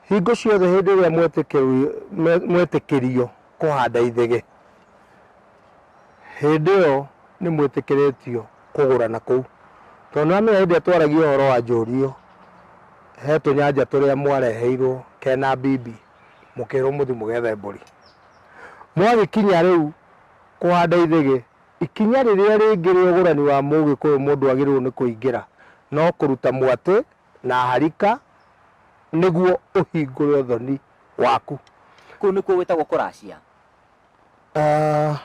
Hingo ciothe hĩndĩ ĩrĩa mwetĩkĩrio kũhanda ithĩgĩ, hĩndĩ ĩyo nĩ mwĩtĩkĩrĩtio kũgũra na kũu. Tondũ nĩ ũramenya hĩndĩ ĩrĩa twaragia ũhoro wa njũrio, he tũnyanja tũrĩa mwareheirwo kena mbimbi, mũkĩrwo mũthiĩ mũgethe mbũri. Mwagĩkinya rĩu kũhanda ithĩgĩ, ikinya rĩrĩa rĩngĩ rĩa ũgũrani wa mũgĩkũyũ mũndũ agĩrĩirwo nĩ kũingĩra, no kũruta mwatĩ na harika nĩguo ũhingũre ũthoni waku. Kũu nĩkuo gwĩtagwo kũracia. Ah,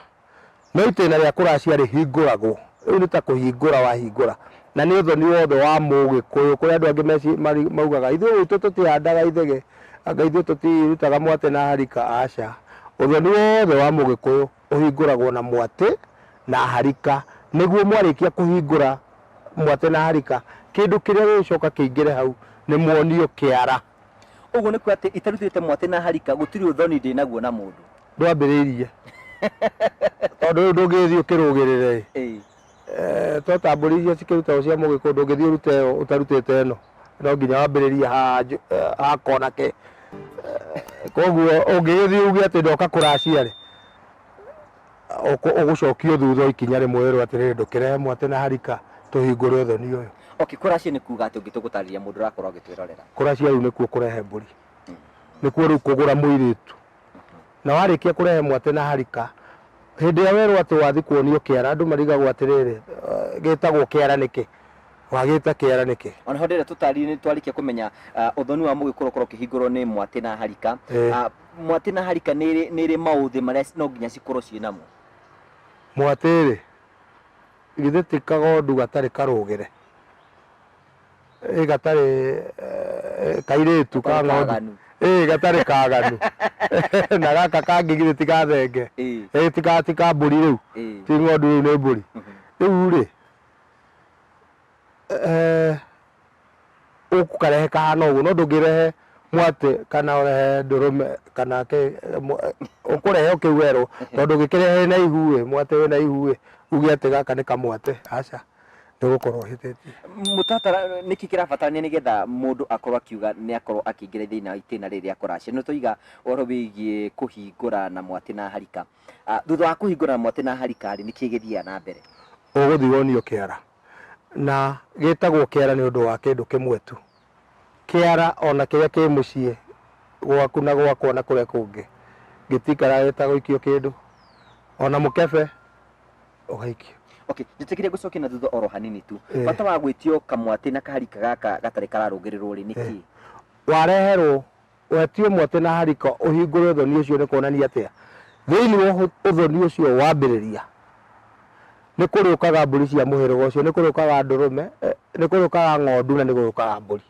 no itĩna rĩa kũracia rĩhingũragwo rĩu nĩ ta kũhingũra wahingũra na nĩ ũthoni wothe wa mũgĩkũyũ kũrĩ andũ angĩ meci- mari- maugaga ithuĩ gwitũ tũtihandaga ithege anga ithuĩ tũtirutaga mwatĩ na harika aca ũthoni wothe wa mũgĩkũyũ ũhingũragwo na mwatĩ na harika. Nĩguo mwarĩkia kũhingũra mwatĩ na harika, kĩndũ kĩrĩa gĩgũcoka kĩingĩre hau nĩ muonio kĩara. Ũguo nĩ kuga atĩ itarutĩte mwatĩ na harika gũtirĩ ũthoni ndĩ naguo na mũndũ. Ndwambĩrĩirie. Tondũ rĩu ndũngĩgĩthiĩ ũkĩrũgĩrĩre-ĩ. Ĩĩ. Eh, twatambũrĩirio cikĩrutagwo cia mũgĩkũyũ ndũngĩthiĩ ũrute ĩyo ũtarutĩte ĩno no nginya wambĩrĩrie ha nju- eh, ha kona ke Eh, koguo ũngĩgĩthiĩ uge atĩ ndoka kũracia rĩ ũkũ- ũgũcokio thutha ikinya rĩmwe wĩrwo atĩrĩrĩ ndũkĩrehe mwatĩ na harika tũhingũre ũthoni ũyũ okay kũracia nĩ kuga atĩ ũngĩtũ gũtarĩria mũndũ ũrakorwo agĩtwĩrorera kũracia rĩu nĩkuo kũrehe mbũri nĩkuo rĩu kũgũra mũirĩtu Na warĩkia kũrehe mwatĩ na harika, hĩndĩ ĩrĩa werwo atĩ wathiĩ kuonio kĩara, andũ marigagwo atĩrĩrĩ, "Eh, gĩtagwo kĩara nĩkĩ? Wagĩta kĩara nĩkĩ? O naho ndĩrĩa tũtari- nĩ twarĩkia kũmenya ah, ũthoni wa mũgĩkũrũ ũkorwo ũkĩhingũrwo nĩ mwatĩ na harika Ĩĩ. Ah, mwatĩ na harika nĩ ĩrĩ- nĩ ĩrĩ maũthĩ marĩa ci- no nginya cikorwo ciĩ namo Mwatĩ-rĩ, githĩ ti kagondu gatarĩ karũgĩre? ĩ gatarĩ eh, kairĩtu ka Gatarĩ ng'ondu kaganu. ĩ gatarĩ kaganu na gaka kangĩ githĩ ti gathenge Ĩĩ, ĩ ti ka ti ka mbũri rĩu ĩĩ. ti ng'ondu rĩu nĩ mbũri rĩu rĩ eh, ũkarehe kahana ũguo no ndũngĩrehe mwatĩ kana ũrehe ndũrũme kana kĩ mwa- ũkũrehe ũkĩu werũ tondũ ũngĩkĩrehe na ihu ĩ mwatĩ wĩ na ihu ĩ uge atĩ gaka nĩ kamwatĩ aca nĩ gũkorwo hĩtĩtie. Mũtaratara nĩkĩ kĩrabatarania nĩgetha mũndũ akorwo akiuga nĩ akorwo akĩingĩra thĩinĩ wa itĩna rĩrĩ rĩa kũracia? Nĩ twaiga ũhoro wĩgiĩ kũhingũra na mwatĩ na harika. Ah, Thutha wa kũhingũra na mwatĩ na harika rĩ, nĩkĩ gĩthiaga na mbere? Ũgũthiĩ wonio kĩara, na gĩtagwo kĩara nĩ ũndũ wa kĩndũ kĩmwe tu. kĩara o na kĩrĩa kĩ mũciĩ gwaku na gwakwa na kũrĩa kũngĩ gĩtiikaraga gĩtagũikio kĩndũ, o na mũkebe ũgaikio. Okay, njĩtĩkĩria ngũcokie na thutha oro hanini tu. Eh. Bata wa gwĩtio kamwatĩ na kaharika gaka gatarĩ kararũngĩrĩrwo rĩ nĩ Eh. kĩĩ? Wareherwo Ũhetio mwatĩ na harika ũhingũre ũthoni ũcio nĩ kuonania atĩa? Thĩinĩ wa ũthoni ũcio wambĩrĩria, nĩ kũrĩũkaga mbũri cia mũhĩrĩga ũcio, nĩ kũrĩũkaga ndũrũme, nĩ kũrĩũkaga ng'ondu na nĩ kũrĩũkaga mbũri.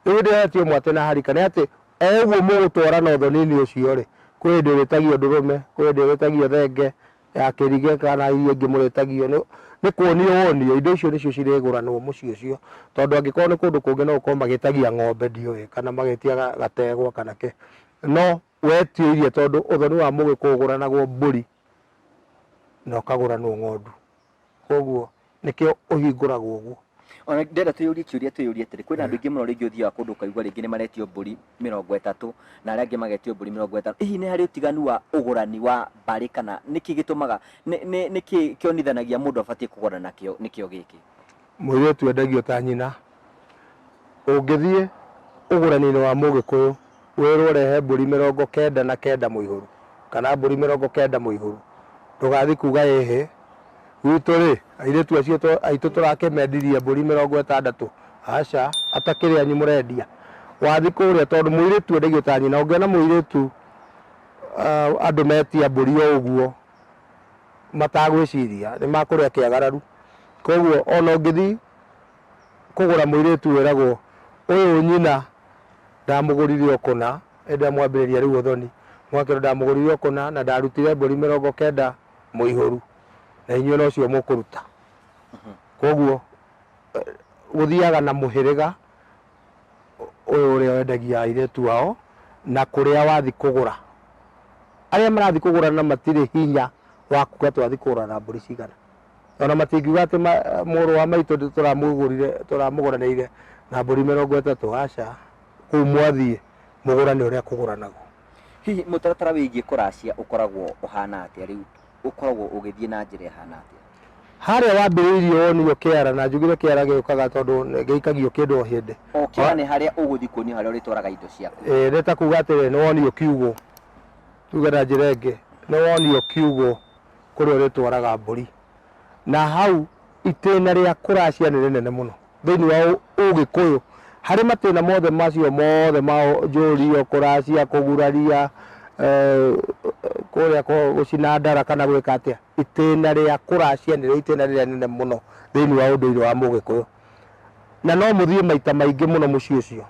Rĩu hĩndĩ ĩrĩa ũhetio mwatĩ na harika nĩ atĩ o ũguo mũgũtwarana ũthoni-inĩ ũcio-rĩ, kwĩ hĩndĩ ũrĩtagio ndũrũme, kwĩ hĩndĩ ũrĩtagio thenge, ya kĩrige kana iria ingĩ mũrĩtagio nĩ nĩ kuonio wonio indo icio nĩcio cirĩgũranwo mũciĩ ũcio tondũ angĩkorwo nĩ kũndũ kũngĩ no gũkorwo magĩtagia ng'ombe ndiũĩ kana magĩtia ga- gategwa kana kĩ no wetio iria tondũ ũthoni wa mũgĩkũyũ ũgũranagwo mbũri na ũkagũranwo ng'ondu Kwoguo nĩkĩo ũhingũragwo ũguo. O na ndĩrenda twĩyũrie kĩũria twĩyũrie atĩrĩ, kwĩna andũ aingĩ mũno rĩngĩ ũthiaga kũndũ ũkaigua rĩngĩ nĩ maretio mbũri mĩrongo ĩtatũ na arĩa angĩ magetio mbũri mĩrongo ĩtano. Hihi nĩ harĩ ũtiganu wa ũgũrani wa mbarĩ kana nĩkĩ gĩtũmaga, nĩkĩ kĩonithanagia mũndũ abatiĩ kũgũra nakĩo nĩkĩo gĩkĩ? Mũirĩtu endagio ta nyina. Ũngĩthiĩ ũgũraninĩ wa mũgĩkũyũ wĩrwo rehe mbũri mĩrongo kenda na kenda mũihũru kana mbũri mĩrongo kenda mũihũru ndũgathi kuga ĩhĩ gwitũ rĩ airĩtu acio aitũ tũrakĩmendirie mbũri mĩrongo ĩtandatũ aca atakĩrĩ anyu mũrendia. Wathi kũrĩa tondũ mũirĩtu endagio ta nyina ũngĩona mũirĩtu andũ metia mbũri o ũguo matagwĩciria nĩ makũrĩa kĩagararu. Koguo ona ũngĩthiĩ kũgũra mũirĩtu wĩragwo ũyũ nyina ndamũgũrire o kũna, ĩndĩ amwambĩrĩria rĩu ũthoni. Mũgakĩrwo ndamũgũrire o kũna na ndarutire mbũri mĩrongo kenda mũihũru, na inyuĩ no cio mũkũruta. Koguo gũthiaga na mũhĩrĩga. ũyũ ũrĩa wendagia airĩtu ao na kũrĩa wathi kũgũra arĩa marathi kũgũra na matirĩ hinya wa kuga twathi kũgũra na mbũri cigana ona matingiuga atĩ ma- mũrũ wa maitũ ndĩ- tũramũgũrire tũramũgũranĩire na mbũri mĩrongo ĩtatũ aca kũu mwathiĩ mũgũrane ũrĩa kũgũranagwo hihi mũtaratara wĩgiĩ kũracia ũkoragwo ũhana atĩa rĩu ũkoragwo ũgĩthiĩ na njĩra ĩhana atĩa? Harĩa wambĩrĩirie wonirio kĩara, na njugire kĩara gĩũkaga tondũ gĩikagio kĩndũ o hĩndĩ. O kĩara nĩ harĩa ũgũthiĩ kuonio harĩa ũrĩtwaraga indo ciaku. Ĩĩ nĩ ta kuuga atĩrĩ nĩ wonirio kiugũ, tuge na njĩra ĩngĩ nĩ wonirio kiugũ kũrĩa ũrĩtwaraga mbũri. Na hau itĩna rĩa kũracia nĩ rĩnene mũno. Thĩinĩ wa Ũgĩkũyũ, harĩ matĩna mothe macio mothe ma njũrio, kũracia, kũguraria, kũrĩa gũcina ndara kana gwĩka atĩa, itĩna rĩa kũracia nĩrĩo itĩna rĩrĩa inene mũno thĩinĩ wa ũndũire wa Mũgĩkũyũ. Na no mũthiĩ maita maingĩ mũno mũciĩ ũcio.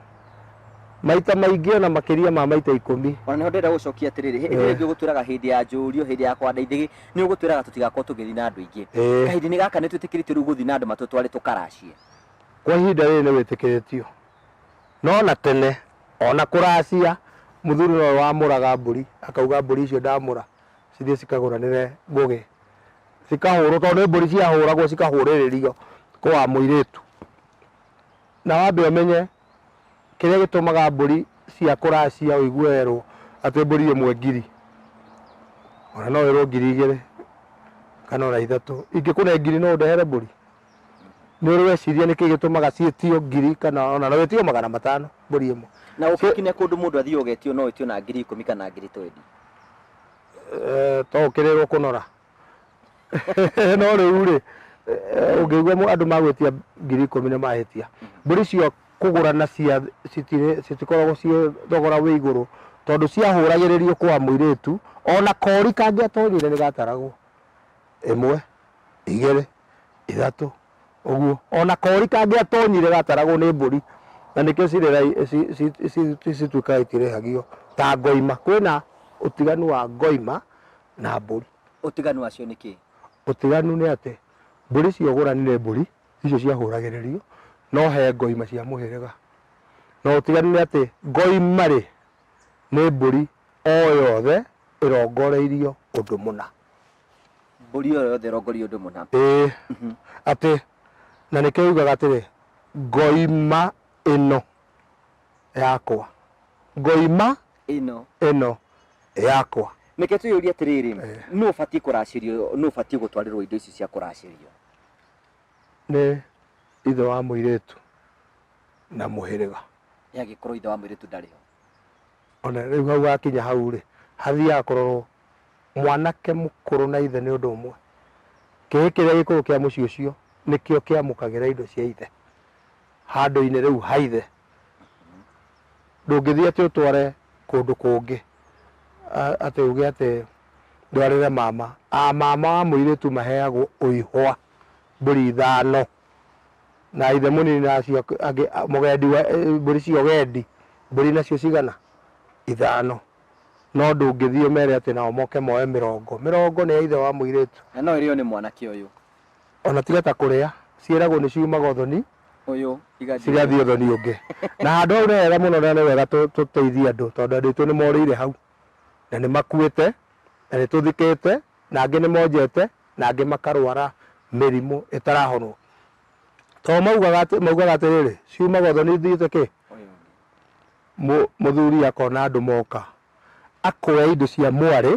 maita maingĩ ona makĩria ma maita ikũmi ona nĩho ndĩrenda gũcokia atĩrĩrĩ hĩndĩ ĩrĩa ĩngĩ ũgũtwĩraga hĩndĩ ya njũrio hĩndĩ ya kwanda ithĩgĩ nĩ ũgũtwĩraga tũtigakorwo tũgĩthiĩ na andũ aingĩ Ĩĩ. kahinda-inĩ gaka nĩ twĩtĩkĩrĩtio rĩu gũthiĩ na andũ matũtware tũkaracie kwa ihinda rĩrĩ nĩ wĩtĩkĩrĩtio no na tene ona kũracia mũthuri nowe wamũraga mbũri akauga mbũri icio ndamũra cithiĩ cikagũranĩre ngũgĩ cikahũrwo tondũ nĩ mbũri ciahũragwo cikahũrĩrĩrio kwa mũirĩtu Na wambe ũmenye kĩrĩa gĩtũmaga mbũri cia kũracia ũigue werwo atĩ mbũri ĩmwe ngiri. Ona no wĩrwo ngiri igĩrĩ kana ona ithatũ. Ingĩkũne ngiri no ũndehere mbũri? Nĩ ũrĩ weciria nĩkĩ gĩtũmaga ciĩtio ngiri kana ona no wĩtio magana matano mbũri ĩmwe? Na ũngĩkinye kũndũ mũndũ athiĩ ũgetio no wĩtio na ngiri ikũmi kana ngiri twendi? To ũkĩrĩrwo kũnora? no rĩu rĩ eh, ũngĩigua mũ- andũ magwĩtia ngiri ikũmi nĩ mahĩtia mbũri icio kũgũra na cia citirĩ- citikoragwo ciĩ thogora wĩ igũrũ tondũ ciahũragĩrĩrio kwa mũirĩtu ona kori kangĩatonyire nĩ gataragwo ĩmwe igĩrĩ ithatũ ũguo ona kori kangĩatonyire gataragwo nĩ mbũri na nĩkĩo cirĩ rai- ci- ci- ci- ci- cituĩkaga itirĩhagio ta ngoima kwĩna ũtiganu wa ngoima na mbũri. Ũtiganu wacio nĩ kĩĩ? Ũtiganu nĩ atĩ mbũri icio ũgũranire mbũri icio ciahũragĩrĩrio no he ngoima cia mũhĩrĩga. Na ũtiganu nĩ atĩ ngoima rĩ nĩ mbũri o yothe ĩrongoreirio ũndũ mũna. Mbũri o yothe ĩrongoreirio ũndũ mũna. Ĩĩ. Atĩ na nĩkĩo yugaga atĩrĩ ngoima ĩno yakwa. Ngoima. ĩno ĩno yakwa. Reke twĩyũrie atĩrĩrĩ, nũ ũbatiĩ kũracĩrio, nũ ũbatiĩ gũtwarĩrwo indo ici cia kũracĩrio? Nĩ ithe wa mũirĩtu na mũhĩrĩga. Ĩ angĩkorwo ithe wa mũirĩtu ndarĩ ho? Ona rĩu hau hakinya hau rĩ, hathiaga kũrorwo mwanake mũkũrũ na ithe nĩ ũndũ ũmwe. Kĩhĩĩ kĩrĩa gĩkũrũ kĩa mũciĩ ũcio nĩkĩo kĩamũkagĩra indo cia ithe handũ-inĩ rĩu ha ithe ndũngĩthiĩ atĩ ũtware kũndũ kũngĩ a- atĩ uge atĩ ndwarĩre mama a mama wa mũirĩtu maheagwo ũihwa mbũri ithano na ithe mũnini na acio ak- angĩ a- mũgendi wa eh, mbũri cia ũgendi mbũri nacio cigana ithano no ndũngĩthiĩ ũmere atĩ nao moke moe mĩrongo mĩrongo nĩ ya ithe wa mũirĩtu na no ĩrĩo nĩ mwanake ũyũ ona tiga ta kũrĩa ciĩragwo nĩ ciumaga ũthoni Ũyũ igathiĩ. cigathiĩ ũthoni ũngĩ na handũ hau nĩ wega mũno na nĩ wega tũ- tũteithie andũ tondũ andũ aitũ nĩ morĩire hau na nĩ makuĩte na nĩ tũthikĩte na angĩ nĩ monjete na angĩ makarwara mĩrimũ ĩtarahonwo tondũ maugaga atĩ- maugaga atĩrĩrĩ ciumaga ũthoni ithiĩte kĩ Ũyũ ũngĩ. Mũ- mũthuri akona andũ moka akoya indo cia mwarĩ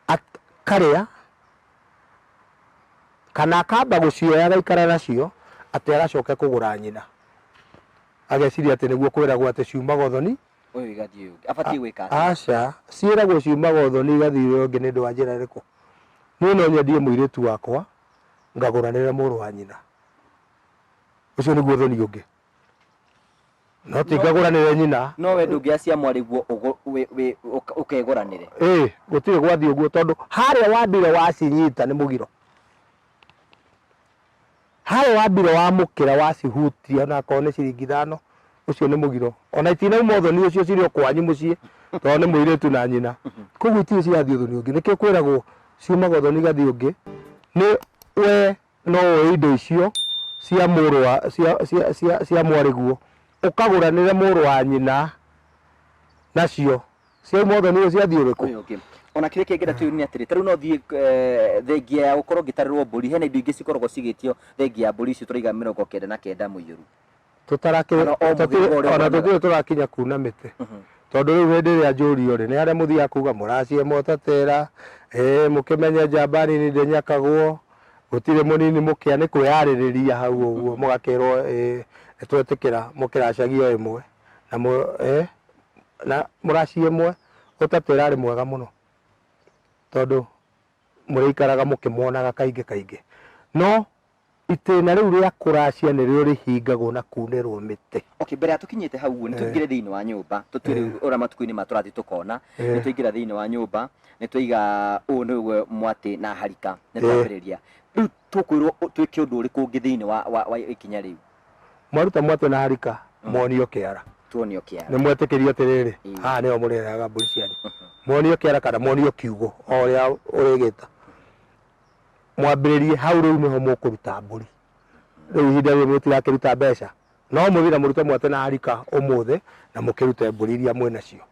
akarĩa, kana akamba gũcioya agaikara nacio, atĩ agacoke kũgũra nyina. Ageciria atĩ nĩguo kwĩragwo atĩ ciumaga ũthoni, Ũyũ igathiĩ ũyũ ũngĩ. Abatiĩ gwĩka atĩa? aca, ciĩragwo ciumaga ũthoni igathiĩ ũrĩa ũngĩ nĩ ũndũ wa njĩra ĩrĩkũ? Niĩ no nyendie mũirĩtu wakwa, ngagũranĩra mũrũ wa nyina. Ũcio nĩguo ũthoni ũngĩ. no tingegũranĩre nyina no we ndũngĩacia mwarĩguo ũgũ- wĩ- wĩ- ũk- ũkegũranĩre ĩ gũtirĩ gwathiĩ ũguo tondũ harĩa wambire wacinyita nĩ mũgiro harĩa wambire wamũkĩra wacihutia onakorwo nĩ ciringi ithano ũcio nĩ mũgiro ona itinauma ũthoni ũcio cirĩ o kwanyu mũciĩ tondũ nĩ mũirĩtu na nyina koguo itirĩ cirathiĩ ũthoni ũngĩ nĩkĩo kwĩragwo ciumaga ũthoni igathiĩ ũngĩ nĩ we No woe indo icio cia mũrũ wa, cia, cia, cia, cia mwarĩguo, ũkagũranĩre mũrũ wa nyina nacio. Ciai mothe nĩiria cia thiĩ ũrĩkũ? Ũyũ ũngĩ. Ona kĩrĩa kĩngĩ na kĩũru nĩ atĩrĩ, ta rĩu no thiĩ eh, thengia ya gũkorwo ngĩtarĩrwo mbũri, hena indo ingĩ cikoragwo cigĩtio thengia ya mbũri icio tũraiga mĩrongo kenda na kenda mũiyũru. tũtarakĩrĩ Kana o mũthemba ũrĩa ona ũremera. tũtirĩ tũrakinya kuna mĩtĩ tondũ rĩu hĩndĩ ĩrĩa njũrio rĩ nĩ harĩa mũthiaga kuga mũracie motatera ĩĩ mũkĩmenye njamba nini ndĩnyakagwo gũtirĩ mũnini mũkĩa nĩ kwĩyarĩrĩria hau ũguo mũgakĩrwo ĩĩ nĩ twetĩkĩra mũkĩracagia o ĩmwe na mũ- ĩĩ, na mũraci ĩmwe ũtatera arĩ mwega mũno tondũ mũrĩikaraga mũkĩmonaga kaingĩ kaingĩ no Itĩna rĩu rĩa kũracia nĩrĩo rĩhingagwo na kuunĩrwo mĩtĩ. Okay, mbere ya tũkinyĩte hau ũguo, nĩ tũingĩre thĩinĩ wa nyũmba. Tũtue rĩu ũrĩa matukũ-inĩ ma tũrathiĩ tũkona. Nĩ twaingĩra thĩinĩ wa nyũmba, nĩ twaiga ũũ nĩguo mwatĩ na harika. Nĩ twambĩrĩria. Rĩu tũkwĩrwo twĩke ũndũ ũrĩkũ ũngĩ thĩinĩ wa wa wa ikinya rĩu? Mwaruta mwatĩ na harika, muonio kĩara. Tuonio kĩara. Nĩ mwetĩkĩrio atĩrĩrĩ, haha nĩho mũrĩrehaga mbũri cianyu. Muonio kĩara kana muonio kiugo, o ũrĩa ũrĩgĩta. mwambĩrĩrie hau rĩu nĩho mũkũruta mbũri rĩu ihinda rĩrĩ mũtirakĩruta mbeca no mũthiĩ na mũrute mwate na harika ũmũthĩ na mũkĩrute mbũri iria mwĩ nacio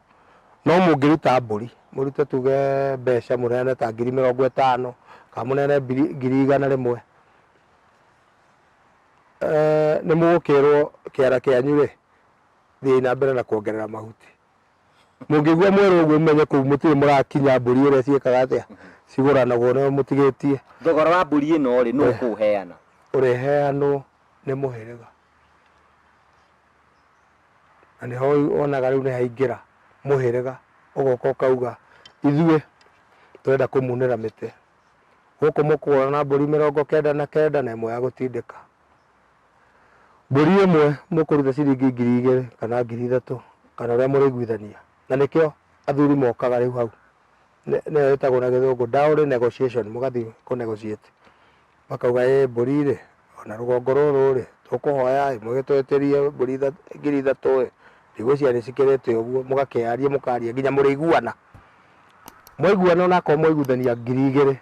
no mũngĩruta mbũri mũrute tuge mbeca mũneane ta ngiri mĩrongo ĩtano kana mũneane mbiri- ngiri igana rĩmwe Eh, nĩ mũgũkĩrwo kĩara kĩanyu rĩ thiĩi na mbere na kuongerera mahuti Mũngĩigua mwerũ ũguo mũmenye kũu mũtirĩ mũrakinya mbũri ũrĩa ciĩkaga atĩa cigũranagwo no mũtigĩtie. Thogora wa mbũri ĩno rĩ nũ ũkũũheana? Ũrĩheanwo nĩ mũhĩrĩga. Na nĩho wonaga rĩu nĩhaingĩra mũhĩrĩga ũgoka ũkauga ithuĩ tũrenda kũmunĩra mĩtĩ. Gũkũ mũkũgũra na mbũri mĩrongo kenda na kenda na ĩmwe ya gũtindĩka. Mbũri ĩmwe mũkũruta ciringi ngiri igĩrĩ kana ngiri ithatũ kana ũrĩa mũrĩiguithania. Na nĩkĩo athuri mokaga rĩu hau. Nĩyo ĩtagwo na gĩthũngũ dowry negotiation, mũgathiĩ kũ negotiate. Makauga ĩ mbũri rĩ, o na rũgongo rũrũ rĩ, tũkũhoya ĩ, mũgĩtũĩtĩrie mbũri ithatũ, ngiri ithatũ ĩ, ndigwĩciria nĩ cikĩrĩ ĩte ũguo, mũgakĩaria mũkaria nginya mũrĩiguana. Mwaiguana o na akorwo mwaiguithania ngiri igĩrĩ.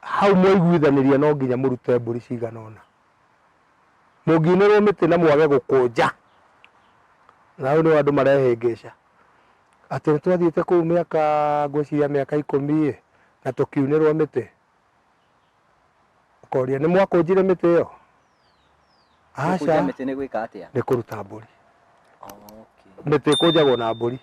Hau mwaiguithanĩria no nginya mũrute mbũri cigana ũna. Mũngiunĩrwo mĩtĩ na mwage gũkũnja, na hau nĩho andũ marehĩngĩca, atĩ nĩtwathiĩte kũu mĩaka ngwĩciria mĩaka ikũmi-ĩ, na tũkiunĩrwo mĩtĩ. Ũkoria, nĩmwakũnjire mĩtĩ ĩyo? Gũkũnja aca mĩtĩ nĩ gwĩka atĩa? nĩ kũruta mbũri Okay. mĩtĩ ĩkũnjagwo na mbũri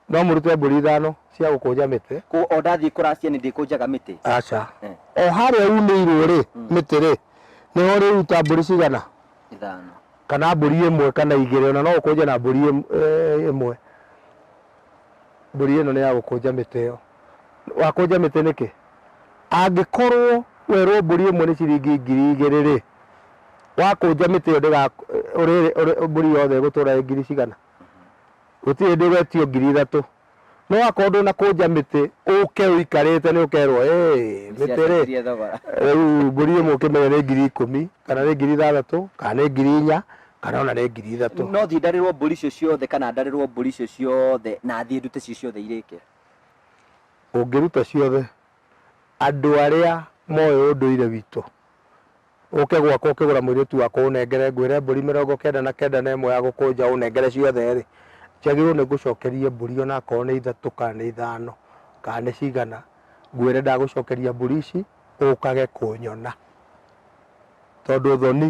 no mũrute mbũri ithano cia gũkũnja mĩtĩ Kũ- o ndathiĩ kũracia nĩ ndĩkũnjaga mĩtĩ aca Eh. o harĩa unĩirwo rĩ Mm. mĩtĩ rĩ nĩho ũrĩruta mbũri cigana ithano kana mbũri ĩmwe kana igĩrĩ ona no ũkũnje na mbũri ĩm- eh, ĩmwe mbũri ĩno nĩ ya gũkũnja mĩtĩ ĩyo Wakũnja mĩtĩ nĩkĩ? Angĩkorwo werwo mbũri ĩmwe nĩ ciringi ngiri igĩrĩ-rĩ, wakũnja mĩtĩ ĩyo ndĩga, ũrĩ, ũrĩ, mbũri yothe ĩgũtũra ĩ ngiri cigana? Gũtirĩ hĩndĩ ũgetio ngiri ithatũ. No wakorwo ndũnakũnja mĩtĩ, ũke ũikarĩte nĩ ũkerwo, hey, mĩtĩ-rĩ, Nĩciacenjirie thogora. rĩu mbũri ĩmwe ũkĩmenye nĩ ngiri ikũmi, kana nĩ ngiri ithathatũ, kana nĩ ngiri inya, kana ona nĩ ngiri ithatũ. No thiĩ ndarĩrwo mbũri icio ciothe kana ndarĩrwo mbũri icio ciothe na thiĩ ndute icio ciothe irĩke? ũngĩruta ciothe andũ arĩa moĩ ũndũire witũ, ũke gwakwa ũkĩgũra mũirĩtu wakwa ũnengere ngwĩre mbũri mĩrongo kenda na kenda na ĩmwe ya gũkũnja ũnengere ciothe-rĩ, njagĩrĩirwo nĩ ngũcokerie mbũri ona akorwo nĩ ithatũ kana nĩ ithano kana nĩ cigana, ngwĩre ndagũcokeria mbũri ici ũkage kũnyona, tondũ thoni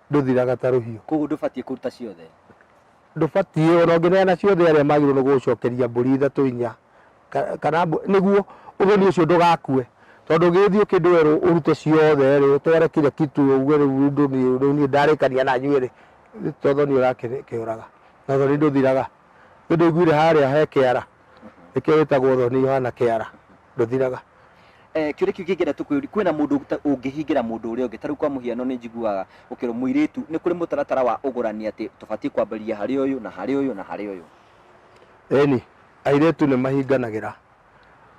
ndũthiraga ta rũhiũ. Kũguo ndũbatiĩ kũruta ciothe? ndũbatiĩ ona ũngĩneana ciothe arĩa magĩrĩirwo nĩ gũgũcokeria mbũri ithatũ inya ka- kana mbũ- nĩguo ũgeni ũcio ndũgakue tondũ ũgĩthiĩ ũkĩndũ werũ ũrute ciothe rĩ ũtware kĩrĩa kitu uge rĩu ũndũ niĩ- rĩu niĩ ndarĩkania na nyuĩ rĩ to thoni ũrakĩũraga na thoni ndũthiraga nĩ ndũiguire harĩa he kĩara nĩkĩo wĩtagwo thoni Yohana kĩara ndũthiraga. Kĩũria kĩu kĩngĩ tũkwĩũria, kwĩna mũndũ ũngĩhingĩra mũndũ ũrĩa ũngĩ? Ta rĩu kwa mũhiano nĩ njiguaga ũkĩrwo mũirĩtu nĩ kũrĩ mũtaratara wa ũgũrani atĩ tũbatiĩ kwambĩrĩria harĩ ũyũ na harĩ ũyũ na harĩ ũyũ. Ĩni, airĩtu nĩ mahinganagĩra.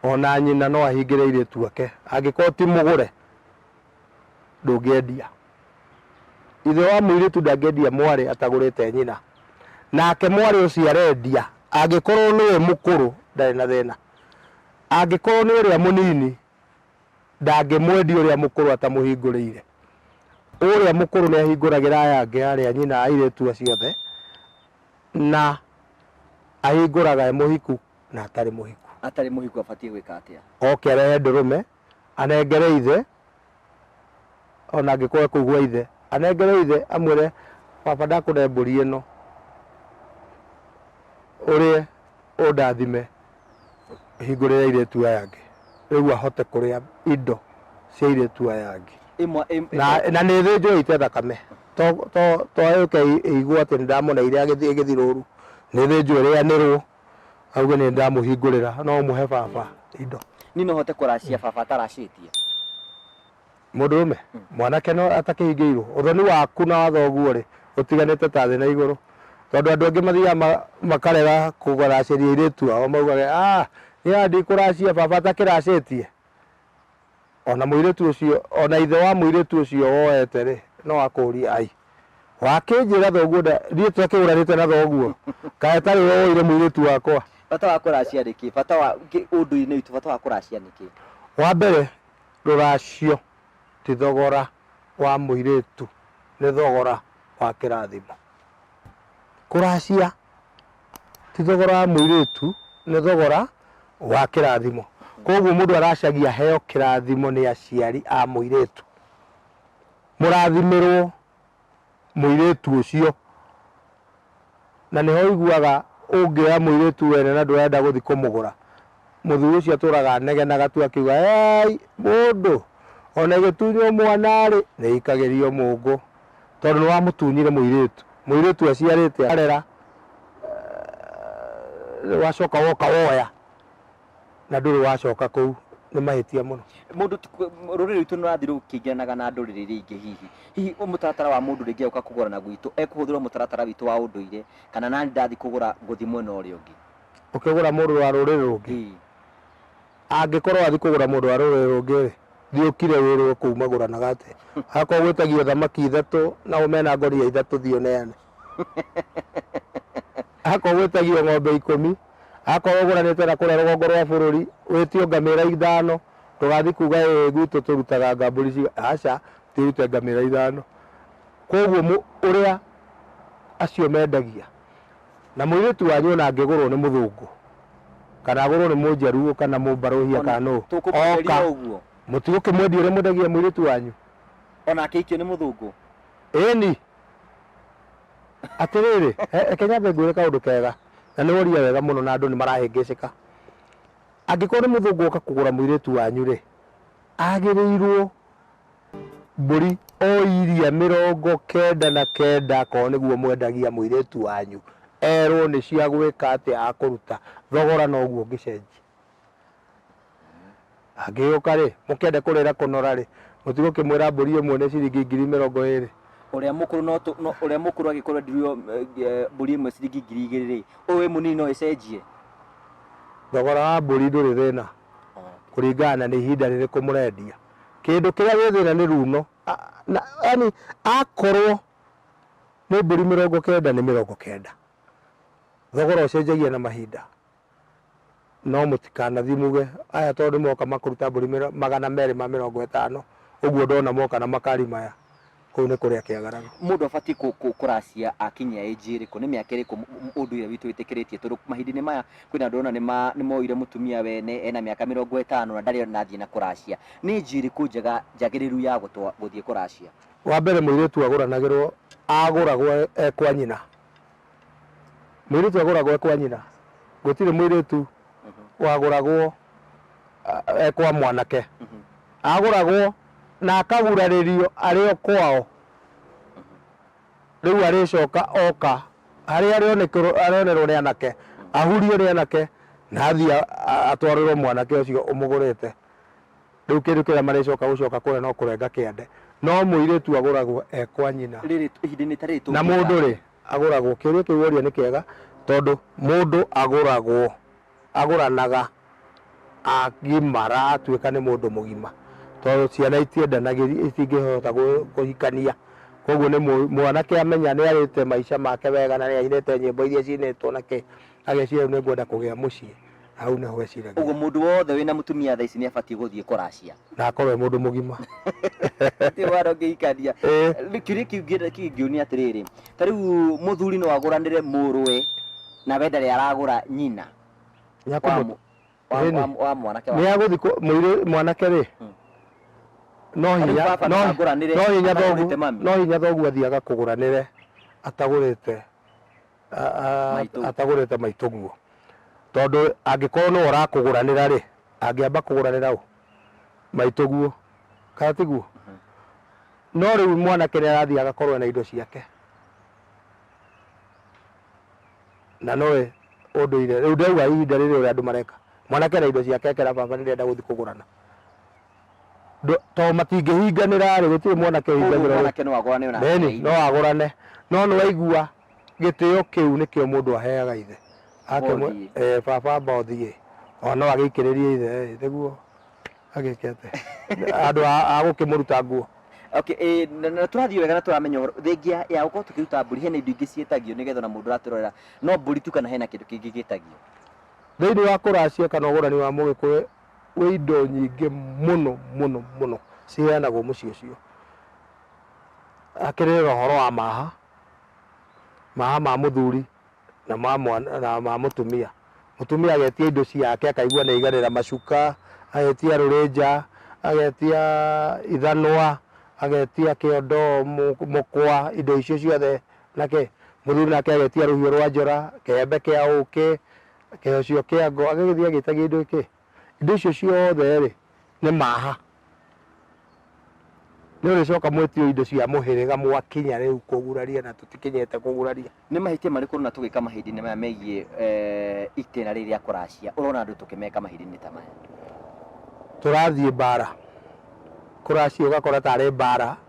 Ona nyina no ahingĩre airĩtu ake. Angĩkorwo ti mũgũre, ndũngĩendia. Ithe wa mũirĩtu ndangĩendia mwarĩ atagũrĩte nyina. Nake mwarĩ ũcio arendia, angĩkorwo nĩwe mũkũrũ, ndarĩ na thĩna. Angĩkorwo nĩ ũrĩa mũnini, ndangĩmwendia ũrĩa mũkũrũ atamũhingũrĩire. Ũrĩa mũkũrũ nĩahingũragĩra aya angĩ arĩ a nyina a airĩtu acio othe, na ahingũraga e mũhiku na atarĩ mũhiku. Atarĩ mũhiku abatiĩ gwĩka atĩa? Oke arehe ndũrũme anengere ithe, ona angĩkorwo e kũu gwa ithe, anengere ithe amwĩre baba ndakũne mbũri ĩno ũrĩe ũndathime hingũrĩre airĩtu aya angĩ rĩu ahote kũrĩa indo cia airĩtu aya angĩ Ĩmwe ĩm- na, na nĩ thĩnjwo ĩite thakame to to to yũke ĩ- ĩigwo atĩ nĩ ndamoneire agĩthiĩ gĩthirũru nĩ thĩnjwo ĩrĩanĩrwo auge nĩ ndamũhingũrĩra no mũhe baba indo Niĩ no hote kũracia baba ataracĩtie. mũndũrũme mwanake no atakĩhingĩirwo ũthoni waku na wa thoguo rĩ ũtiganĩte ta thĩ na igũrũ tondũ andũ angĩ mathiaga ma- makarega kũracĩria airĩtu ao maugage ah nĩ handi kũracia baba atakĩracĩtie O na mũirĩtu ũcio, o na ithe wa mũirĩtu ũcio woete-rĩ, no akũũrie, Ai, wakĩnjĩra thoguo nda, ithuĩ tũtakĩgũranĩte na thoguo, kaĩ tarĩ we woire mũirĩtu wakwa? Bata wa kũracia nĩ kĩĩ? Bata wa, ũndũire-inĩ witũ, bata wa kũracia nĩ kĩĩ? Wa mbere, rũracio ti thogora wa mũirĩtu, nĩ thogora wa kĩrathimo. Kũracia ti thogora wa mũirĩtu, nĩ thogora wa kĩrathimo. Koguo mũndũ aracagia aheo kĩrathimo nĩ aciari a mũirĩtu. Mũrathimĩrwo mũirĩtu ũcio. Na nĩho ũiguaga ũngĩoya mũirĩtu wene na ndũrenda gũthiĩ kũmũgũra, mũthuri ũcio atũraga anegenaga tu akiuga "Eei mũndũ, ona ĩgĩtunywo mwana-rĩ, nĩĩikagĩrio mũngũ." tondũ nĩ wamũtunyire mũirĩtu. Mũirĩtu aciarĩte akarera, eh, wacoka woka woya na ndũrĩ wacoka kũu, nĩ mahĩtia mũno. Mũndũ ti- kũ- rũrĩrĩ rwitũ nũrathiĩ rũkĩingĩranaga na ndũrĩrĩ iria ingĩ hihi hihi ũ- mũtaratara wa mũndũ rĩngĩ agĩũka kũgũrana gwitũ ekũhũthĩrwo mũtaratara witũ wa ũndũire kana nani ndathiĩ kũgũra ngũthiĩ mwena ũrĩa ũngĩ Ũkĩgũra mũndũ wa rũrĩrĩ rũngĩ, Ĩĩ. Angĩkorwo wathiĩ kũgũra mũndũ wa rũrĩrĩ rũngĩ-rĩ, thiĩ ũkire wĩrwo kũu magũranaga atĩa. Akorwo gwĩtagio thamaki ithatũ, nao mena ngũnia ithatũ thiĩ ũneane. Akorwo gwĩtagio ng'ombe ikũmi, akorwo ũgũranĩte na kũrĩa rũgongo rwa bũrũri, wĩtio ngamĩra ithano, ndũgathiĩ kuga ĩĩ gwitũ tũrutaga anga mbũri cigana, aca, thiĩ ũrute ngamĩra ithano. Kuoguo ũrĩa acio mendagia Na mũirĩtu wanyu ona angĩgũrwo nĩ mũthũngũ, kana agũrwo nĩ mũnjaruo, kana mũmbarũhia, kana nũ, oka, mũtigũkĩmwendia ũrĩa mwendagia mũirĩtu wanyu? O na akĩhikio nĩ mũthũngũ? Ĩĩni. Atĩrĩrĩ, reke nyambe ngwĩre kaũndũ kega, na nĩ woria wega mũno, na andũ nĩ marahĩngĩcĩka. Angĩkorwo nĩ mũthũngũ woka kũgũra mũirĩtu wanyu-rĩ, agĩrĩirwo Mbũri o iria mĩrongo kenda na kenda, akorwo nĩguo mwendagia mũirĩtu wanyu, erwo nĩ cia gwĩka atĩa, akũruta thogora noguo ngĩcenjia. Angĩgĩũka rĩ, mũkĩende kũrĩra kũnora rĩ, mũtigũkĩmwĩra mbũri ĩmwe nĩ ciringi ngiri mĩrongo ĩrĩ. Ũrĩa mũkũrũ no tũ, no, ũrĩa mũkũrũ angĩkorwo endirio eh, mbũri ĩmwe ciringi ngiri igĩrĩ rĩ, ũyũ wĩ mũnini no ĩcenjie? Thogora wa mbũri ndũrĩ thĩna, kũringana na nĩ ihinda rĩrĩkũ mũrendia. Kĩndũ kĩrĩa gĩ thĩna nĩ ruuno. Na yaani akorwo nĩ mbũri mĩrongo kenda nĩ mĩrongo kenda. Thogora ũcenjagia na mahinda. No mũtikanathiĩ muge aya tondũ nĩ moka makũruta mbũri magana merĩ ma mĩrongo ĩtano, ũguo ndona moka na makari maya. Kũu nĩ kũrĩa kĩagaraga. Mũndũ abatiĩ kũracia akinyia age ĩrĩkũ? Nĩ mĩaka ĩrĩkũ ũndũire witũ wĩtĩkĩrĩtie? Tondũ mahinda-inĩ maya kwĩna andũ ndĩrona nĩ moire mũtumia wene ena mĩaka mĩrongo ĩtano na ndarĩ ona athiĩ na kũracia. Nĩ age ĩrĩkũ njega njagĩrĩru ya gũthiĩ kũracia? Wa mbere mũirĩtu agũranagĩrwo, agũragwo e kwa nyina. Mũirĩtu agũragwo ekwa nyina, gũtirĩ mũirĩtu wagũragwo ah, ekwa mwanake. Agũragwo na akagurarĩrio arĩ o kwao. Rĩu arĩcoka oka harĩa arĩonekerwo- arĩonerwo nĩ anake, ahurio nĩ anake na athiĩ a- a- atwarĩrwo mwanake ũcio ũmũgũrĩte. Rĩu kĩndũ kĩrĩa marĩcoka gũcoka kũrĩa no kũrenga kĩande. No mũirĩtu agũragwo ekwa nyina. Rĩrĩ ihinda-inĩ ta rĩrĩ na tũngĩka- mũndũ rĩ agũragwo kĩũria kĩu woria nĩ kĩega tondũ mũndũ agũragwo agũranaga agimara atuĩka nĩ mũndũ mũgima tondũ ciana itiendanagĩria itingĩhota gũ- kũhikania koguo nĩ mũ- mwanake amenya nĩ arĩte maica make wega na nĩ ainĩte nyĩmbo iria cinĩtwo na kĩ ageciria rĩu nĩ ngwenda kũgĩa mũciĩ hau nĩho eciragia Ũguo mũndũ wothe wĩna mũtumia thaa ici nĩ abatiĩ gũthiĩ kũracia. na akorwo e mũndũ mũgima Ti wara ũngĩhikania. Ĩĩ. Rĩu Kĩũria kĩu ingĩ- kĩngĩũnia atĩrĩrĩ, ta rĩu mũthuri no agũranĩre mũrũwe na we ndarĩ aragũra nyina Nĩ wa akũmũ- mũ- wa- Ĩĩ nĩ. wa- wa mwanake nĩ wake. agũthi mũirĩ mwanake rĩ Mm. no Tarĩu hinya baba no- ndakagũranĩre, no hinya atagũrĩte thogu- mami. no hinya thoguo athiaga kũgũranĩre atagũrĩte Maitũ. atagũrĩte maitũ guo tondũ angĩkorwo nĩwe ũrakũgũranĩra rĩ angĩamba kũgũranĩra ũ maitũ guo kana tiguo no rĩu mwanake nĩ arathiĩ agakorwo na indo ciake na noe ũndũire rĩu ndĩrauga ihinda rĩrĩ ũrĩa andũ mareka mwanake na indo ciake ekera baba nĩ ndĩrenda gũthiĩ kũgũrana Ndũ- tondũ matingĩhinganĩra-rĩ gũtirĩ mwanake Koguo ũhingagĩra mwanake no agũrane ona Beni ateithie. no agũrane no nĩ waigua gĩtĩo kĩu nĩkĩo mũndũ aheaga ithe Ake mwe- Mothiĩ. eh, baba amba ũthiĩ ona no agĩikĩrĩrie ithe eh, nĩguo agĩke atĩ andũ a- a gũkĩmũruta nguo Okay, eh, na- na tũrathiĩ wega na tũramenya ũhoro thengia ya gũkorwo tũkĩruta mbũri hena indo ingĩ ciĩtagio nĩgetha ona mũndũ ũratũrorera no mbũri tu kana hena kĩndũ kĩngĩ gĩtagio thĩinĩ wa kũracia kana ũgũrani wa mũgĩkũyũ Kwĩ indo nyingĩ mũno mũno mũno ciheanagwo mũciĩ ũcio. Hakĩrĩ na ũhoro wa maha, maha ma mũthuri na ma mwana na ma mũtumia. Mũtumia agetia indo ciake akaigua nĩ aiganĩra, macuka, agetia rũrĩnja, agetia ithanwa, agetia kĩondo, mũkwa, indo icio ciothe na kĩ, mũthuri nake agetia rũhiũ rwa njora, kĩembe kĩa ũkĩ, kĩheo cio kĩa ngo agĩgĩthiĩ agĩta kĩndũ gĩkĩ indo icio ciothe rĩ nĩ maha nĩ ũrĩcoka mwĩtio indo cia mũhĩrĩga mwakinya rĩu kũguraria na tũtikinyĩte kũguraria nĩ mahĩtia marĩkũ na tũgĩka mahinda-inĩ maya megiĩ eh, itĩna rĩrĩ rĩa kũracia ũrona andũ tũkĩmeka mahinda-inĩ ta maya tũrathiĩ mbara kũracia ũgakora tarĩ mbara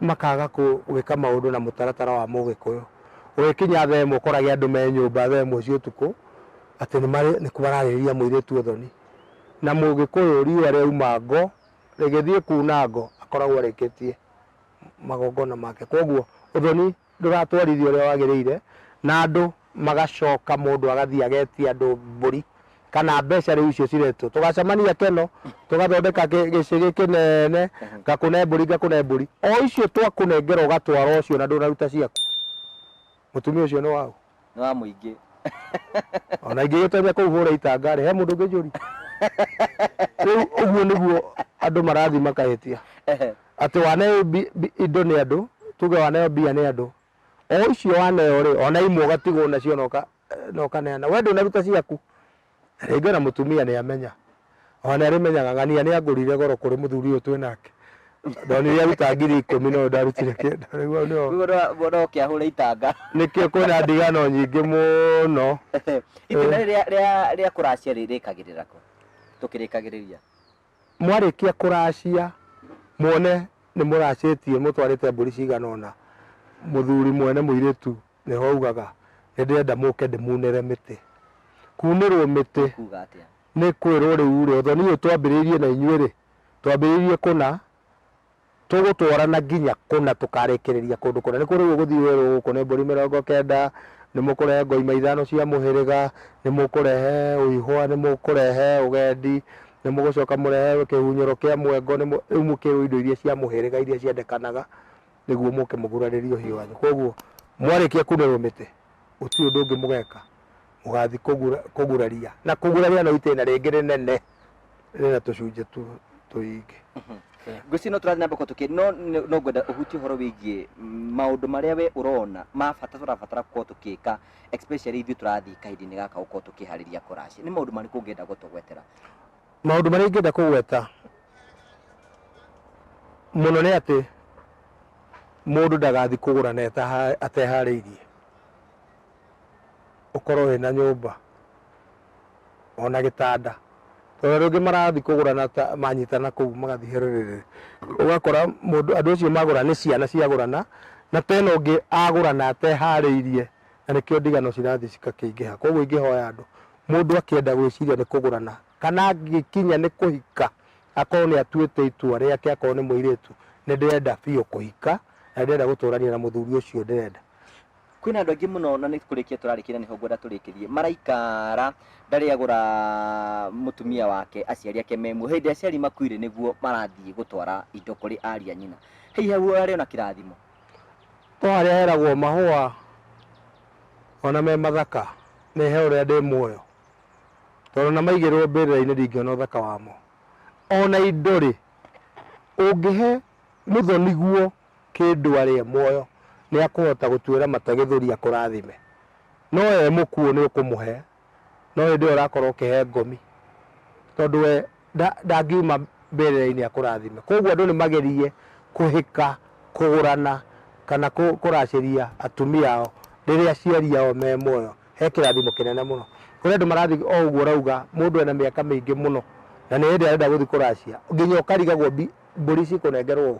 makaga gwĩka maũndũ na mũtaratara wa mũgĩkũyũ. Ũgĩkinya thaa ĩmwe ũkorage andũ me nyũmba thaa ĩmwe cia ũtukũ atĩ nĩmararĩrĩria mũirĩtu ũthoni. Na mũgĩkũyũ riũa rĩauma ngo, rĩgĩthiĩ kuna ngo akoragwo arĩkĩtie magongona make. Kuoguo ũthoni Ndũratwarithia ũrĩa wagĩrĩire na andũ magacoka mũndũ agathiĩ agetia andũ mbũri kana mbeca rĩu icio ciretwo tũgacemania keno tũgathondeka kĩ- gĩcĩgĩ kĩnene ngakũne mbũri ngakũne mbũri o icio twakũnengera ũgatwara ũcio na ndũnaruta ciaku mũtumia ũcio nĩ waũ nĩ wa mũingĩ ona ingĩgĩtonya kũu hũre itanga rĩ he mũndũ ũngĩ njũri rĩu ũguo nĩguo andũ marathiĩ makahĩtia Ehe. atĩ waneo bi- bi- indo nĩ andũ tuge waneo mbia nĩ andũ o icio waneo rĩ ona imwe ũgatigwo nacio na ũka- na ũkaneana we ndũnaruta ciaku Rĩngĩ ona mũtumia nĩ amenya. Ona nĩ arĩmenyaga ng'ania nĩ angũrire goro kũrĩ mũthuri ũyũ twĩ nake. Ndonire aruta ngiri ikũmi no ndarutire kĩndũ. Rĩu ũyũ nĩo. Rĩu no- no- no ũkĩahũre itanga Nĩkĩo kwĩna ndigano nyingĩ mũno. itunda rĩrĩa rĩa- rĩa kũracia rĩ- rĩkagĩrĩra kũ tũkĩrĩkagĩrĩria Mwarĩkia kũracia muone nĩ mũracĩtie mũtwarĩte mbũri cigana ũna, mũthuri mwene mũirĩtu Nĩ ho augaga, Nĩ ndĩrenda mũke ndĩmuunĩre mĩtĩ. Kuunĩrwo mĩtĩ. Nĩ kuuga atĩa? Nĩ kwĩrwo rĩu-rĩ, ũthoni ũyũ twambĩrĩirie na inyuĩ-rĩ, twambĩrĩirie kũna, tũgũtwarana nginya kũna tũkarĩkĩrĩria kũndũ kũna. Nĩkuo rĩu ũgũthiĩ werwo gũkũ nĩ mbũri mĩrongo kenda, nĩ mũkũrehe ngoima ithano cia mũhĩrĩga, nĩ mũkũrehe ũihũa, nĩ mũkũrehe ũgendi, nĩ mũgũcoka mũrehe kĩhunyũro kĩa mwengo, nĩ mũ, rĩu mũkĩrwo indo iria cia mũhĩrĩga iria ciendekanaga. nĩguo mũke mũgurarĩrie ũhiũ wanyu koguo mwarĩkia kunĩrwo mĩtĩ gũtirĩ ũndũ ũngĩ mũgeka mũgathi kũgura- kũguraria na kũguraria no itĩna rĩngĩ rĩnene rĩna tũcunjĩ tu- tũingĩ ngwĩciria no tũrathiĩ na mbere tũkĩ no nĩ- no ngwenda ũhutie ũhoro wĩgiĩ mm, maũndũ marĩa we ũrona ma bata tũrabatara gũkorwo tũkĩka especially ithuĩ tũrathiĩ kahinda-inĩ gaka gũkorwo tũkĩharĩria kũracia nĩ maũndũ marĩkũ ũngĩenda gũtũgwetera Maũndũ marĩa ingĩenda kũgweta mũno nĩ atĩ mũndũ ndagathiĩ kũgũra na etaha- ateharĩirie. Ũkorwo wĩna nyũmba ona gĩtanda, tondũ andũ aingĩ marathiĩ kũgũra na ta manyitana kũu magathiĩ hĩrĩrĩrĩ. Ũgakora mũndũ andũ acio magũra nĩ ciana ciagũrana, na tena ũngĩ agũra na ateharĩirie na nĩkĩo ndigano cirathiĩ cigakĩingĩha. Koguo ingĩhoya andũ, mũndũ akĩenda gwĩciria nĩ kũgũrana kana angĩkinya nĩ kũhika, akorwo nĩ atuĩte itua rĩake, akorwo nĩ mũirĩtu, nĩ ndĩrenda biũ kũhika na nĩ ndĩrenda gũtũrania na mũthuri ũcio ndĩrenda. Kwĩna andũ aingĩ mũno na nĩ kũrĩkia tũrarĩkia na nĩho ngwenda tũrĩkĩrie. Maraikara ndarĩ agũra mũtumia wake aciari ake me muoyo. Hĩndĩ aciari makuire nĩguo marathiĩ gũtwara indo kũrĩ ariũ a nyina. Hihi hau ũrarĩ ona kĩrathimo? O harĩa heragwo mahũa ona me mathaka nĩ he ũrĩa ndĩ muoyo, tondũ ona maigĩrĩrwo mbĩrĩra-inĩ ndingĩona ũthaka wamo. Ona indo rĩ, ũngĩhe mũthoni guo kĩndũ arĩ e muoyo nĩ akũhota gũtuĩra mata gĩthũri akũrathime, no e mũkuũ nĩ ũkũmũhe no hĩndĩ ĩyo ũrakorwo ũkĩhe ngomi, tondũ we ndangiuma mbĩrĩra-inĩ akũrathime. Koguo andũ nĩ magerie kũhĩka, kũgũrana kana kũracĩria atumia ao rĩrĩa aciari ao me muoyo, he kĩrathimo kĩnene mũno. Kũrĩ andũ marathiĩ o ũguo ũrauga mũndũ ena mĩaka mĩingĩ mũno na nĩ hĩndĩ arenda gũthiĩ kũracia, nginya ũkarigagwo mbũri cikũnengerwo ũũ,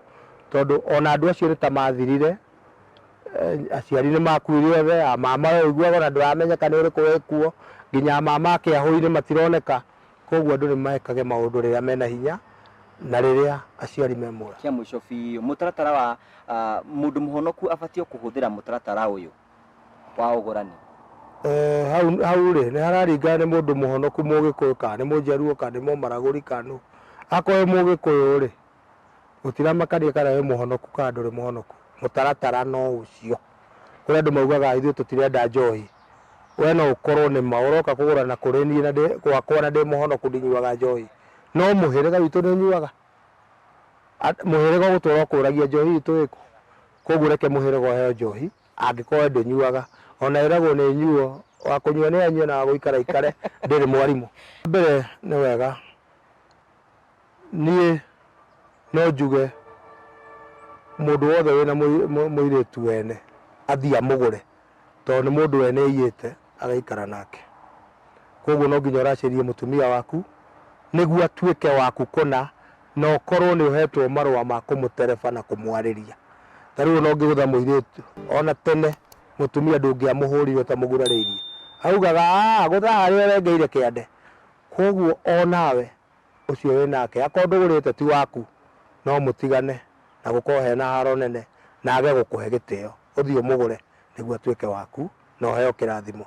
tondũ ona andũ acio nĩ ta mathirire eh, aciari nĩ makuire othe a mama we ũiguaga ona ndũramenyeka nĩ ũrĩkũ wĩkuo nginya a mama akĩahũi-inĩ matironeka koguo andũ nĩ mekage maũndũ rĩrĩa mena hinya na rĩrĩa aciari me muoyo kĩa mũico biũ mũtaratara wa ah, mũndũ mũhonoku abatiĩ kũhũthĩra mũtaratara ũyũ wa ũgũrani Eh, hau hau rĩ nĩ hararingana nĩ mũndũ mũhonoku mũgĩkũyũ kana nĩ mũnjaruo kana nĩ mũmaragũri kana nũ. akorwo wĩ mũgĩkũyũ rĩ Gũtiramakania kana wĩ mũhonoku kana ndũrĩ mũhonoku, mũtaratara no ũcio. Kũrĩ andũ maugaga ithuĩ tũtirenda njohi, we no ũkorwo nĩ ma ũroka kũgũra na kũrĩ niĩ na ndĩ gwakwa na ndĩ mũhonoku ndinyuaga njohi, no mũhĩrĩga witũ nĩ ũnyuaga? Mũhĩrĩga ũgũtũra ũkũragia njohi itũ ĩkũ? Kwoguo reke mũhĩrĩga ũheo njohi angĩkorwo we ndũnyuaga. O na ĩragwo nĩ nyuo, wa kũnyua nĩ anyue na wa gũikara aikare, ndĩrĩ mwarimũ. Wa mbere nĩ wega niĩ no njuge mũndũ wothe wĩna mũi- mũ- mũirĩtu wene athiĩ amũgũre tondũ nĩ mũndũ wene aiyĩte agaikara nake koguo no nginya ũracĩrie mũtumia waku nĩguo atuĩke waku kũna na ũkorwo nĩ ũhetwo marũa ma kũmũtereba na kũmwarĩria ta rĩu ona ũngĩgũtha mũirĩtu ona tene mũtumia ndũngĩamũhũrire ũtamũgurarĩirie augaga "Ah, gũtha harĩa ũrengeire kĩande koguo onawe ũcio wĩ nake, akorwo ndũgũrĩte ti waku, no mũtigane na gũkorwo hena haro nene, na age gũkũhe gĩtĩo, ũthiĩ ũmũgũre nĩguo atuĩke waku na ũheo kĩrathimo.